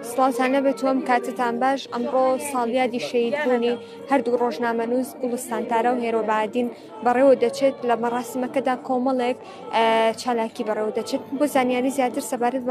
سڵاوتانە بە تۆم کاتتان باش ئەمڕۆ ساڵیادی شەید بوونی هەردوو ڕۆژنامەنووس گوڵستان تارا و هێرۆبادین بەڕێوە دەچێت لە مەڕاستمەکەدا کۆمەڵێک چالاکی بەڕێوە دەچێت بۆ زانیاری زیاتر سەبارەت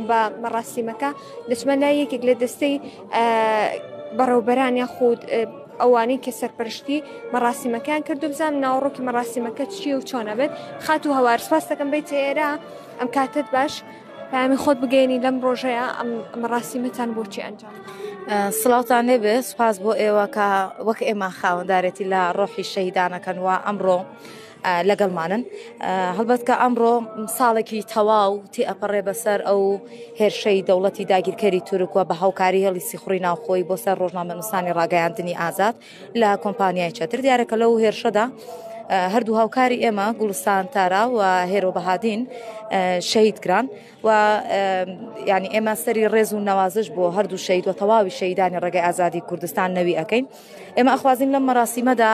بە مەڕاستیمەکە دەچمە لای یەکێک لە دەستەی بەڕێوبەران یاخود ئەوانەی کە سەرپەرشتی مەڕاسیمەکان کردو بزانم ناوەڕۆکی مەڕاسیمەکە چیە و چۆنە بێت خات و هەوار سپاس دەکەم بیت ئێرە ئەم کاتت باش پامی خۆت بگەێنی لەم ڕۆژەیە ئەم مەڕاسیمەتان بۆچی ئەنجام سلااوان لێبێ سپاس بۆ ئێوە کە وەک ئێمە خاوەندارێتی لە ڕۆحی شەیدانەکەن و ئەمڕۆ لەگەڵمانن هەڵبەت کە ئەمڕۆ ساڵێکی تەواو تێئەپەڕێ بەسەر ئەو هێرشەی دەوڵەتی داگیرکەری تورکوە بە هاوکاری هێڵی سیخوڕی ناوخۆی بۆ سەر ڕۆژنامەنووسانی ڕاگەیاندنی ئازاد لە کۆمپانیای چەتر دیارەکە لەو هێرشەدا هەردوو هاوکاری ئێمە گوڵستان تارا و هێرۆ بەهادین شەهید کران. و یعنی ئێمە سەری ڕێز و نەوازش بۆ هەردوو شەید و تەواوی شەیدانی ڕێگەی ئازادی کوردستان نەوی ئەەکەین ئێمە ئەخوازین لەم مەراسیمەدا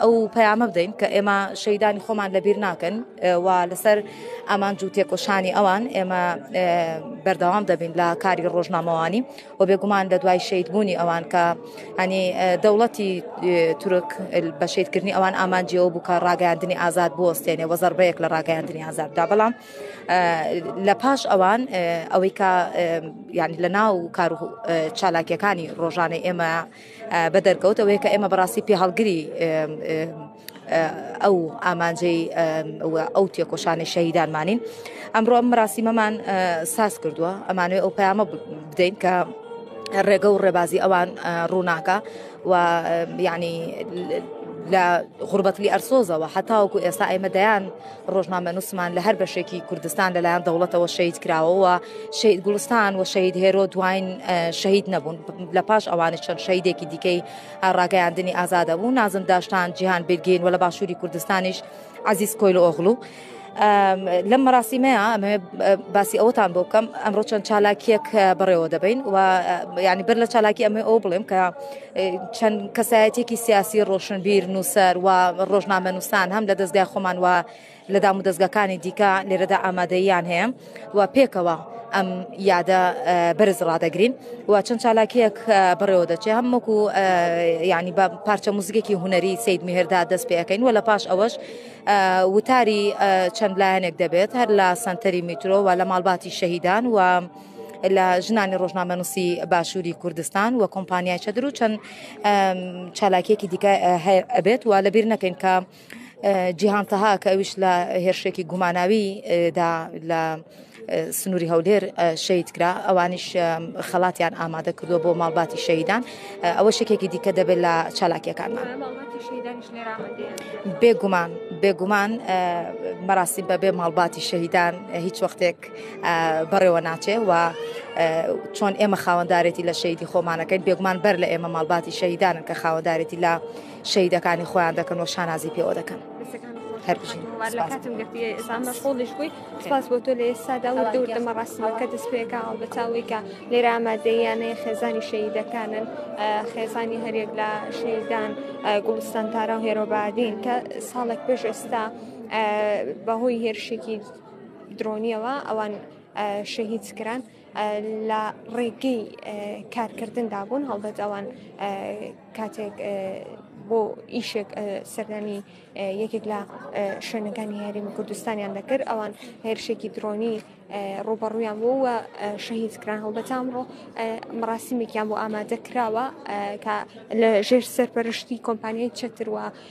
ئەو پەیامە بدەین کە ئێمە شەیدانی خۆمان لەبیر ناکەن و لەسەر ئەمان جوو تێکۆشانی ئەوان ئێمە بەردەوام دەبین لە کاری ڕۆژنامەوانی و بێگومان لە دوای شەیدبوونی ئەوان کە هەنی دەوڵەتی تورک بە شەیدکردنی ئەوان ئامانجیەوە بوو کە ڕاگەاندنی ئازاد بۆستێنێ وەزەربەیەک لە ڕاگەاندنی ئازاددا بەڵام لە پاش ئەوان ئەوەی کە ینی لە ناو کار و چالاکیەکانی ڕۆژانە ئێمە بە دەرکەوت ئەوەیە کە ئێمە بەڕاستی پێ هەڵگری ئەو ئامانجەی ئەو تێکۆشانی شەهیدانمانین ئەمڕۆ ئەم ڕاستیمەمان ساز کردووە ئەمانوێ ئەو پەیامە بدەین کە ڕێگە و ڕێبازی ئەوان ڕووناکە و ینی لە غوربەتلی ئەرسۆزەوە هەتاوەکو ئێستا ئەمە دەیان ڕۆژنامەنووسمان لە هەر بەشێکی کوردستان لەلایەن دەوڵەتەوە شەید کراوەوە شەید گوڵستان و شەید هێرۆ دوین شەید نەبوون لە پاش ئەوانی چەند شەیدێکی دیکەی ڕاگەیاندنی ئازادە بوو نازم داشتان جیهان بگین و لە باشووری کوردستانیش عزیز کۆیل ئۆغلو. لەم مەراسیمەیە ئەمە باسی ئەوەتان بۆ بکەم ئەمڕۆ چەند چالاکیەک بەڕێوە دەبین و ینی بەر لە چالاکی ئەمە ئەو بڵێم کە چەند کەسایەتێکی سیاسی ڕۆشنبیر نووسەر و ڕۆژنامە نووسان هەم لە دەستگای خۆمان وە لە دام و دەستگەکانی دیکە لێرەدا ئامادەیان هەیە و پێکەوە ئەم یادە بەرز ڕدەگرین و چەند چالاکیەک بڕێوە دەچێ هەم وەکو ینی بە پارچە موزیکێکی هوەری سید میهردا دەست پێەکەین و لە پاش ئەوەش وتاری چەند لایەنێک دەبێت هەر لە سنتەری میترۆ و لە ماڵباتی شەهیدان و لە ژنانی ڕۆژنامەنووسی باشووری کوردستان و کۆمپانیای چەدر و چەند چالاکیەکی دیکە هەیە ئەبێت و لەبیر نەکەین کە جیهان تەها کە ئەوش لە هێرشێکی گوماناوی دا لە سنووری هەولێر شەید کرا ئەوانیش خەڵاتیان ئامادە کردووە بۆ ماڵباتی شەیدان ئەوە شکێکی دیکە دەبێت لە چالاکیەکانمان بێگومان بێگومان مەراسی بەبێ ماڵباتی شەهیدان هیچ وەختێک بەڕێوە ناچێ و چۆن ئێمە خاوەندارێتی لە شەیدی خۆمانەکەین بێگومان بەر لە ئێمە ماڵباتی شەیدانن کە خاوەندارێتی لە شەیدەکانی خۆیان دەکەن و شانازی پێوە دەکەن. هەرژینڵش بووی سپاس بۆ تۆ لە ئێستادا و دەور دەمە ڕاستمەکە دەست پێکا هەڵبەتاوی کە لێرە ئامادەیانەیە خێزانی شەیدەکانن خێزانی هەرێک لە شەیدان گوڵستان تارا و هێرۆبادین کە ساڵێک پێش ئێستا بەهۆی هێرشێکی درۆنیەوە ئەوان شەهید کران لە ڕێگەی کارکردندا بوون هەڵبەت ئەوان کاتێک بۆ ئیشێک سەردانی یەکێک لە شوێنەکانی هەریم کوردستانیان دەکرد ئەوان هێرشێکی درۆنی ڕوبەڕویان بۆ وە شەهید کران هەڵبەتان ڕۆ مەڕاستیمێکیان بۆ ئامادە کراوە کە لە ژێر سەرپەرشتی کۆمپانیای چتروە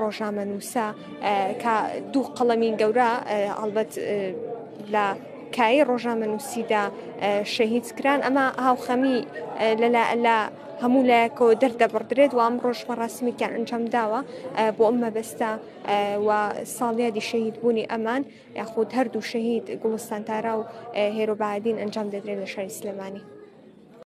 ڕۆژنامەنووسە کە دوو قەڵەمی گەورە ئەڵبەت لە کایی ڕۆژنامەنووسیدا شەهید کران ئەمە هاوخەمی لە هەموو لایەکەوە دەردەبڕدرێت و ئەم ڕۆژ مەڕاستمیکیان ئەنجام داوە بۆ ئەم مەبەستا و ساڵیادی شەهید بوونی ئەمان یاخود هەردوو شەهید گوڵستان تارا و هێرۆبادین ئەنجام دەدرێن لە شاری سلێمانی.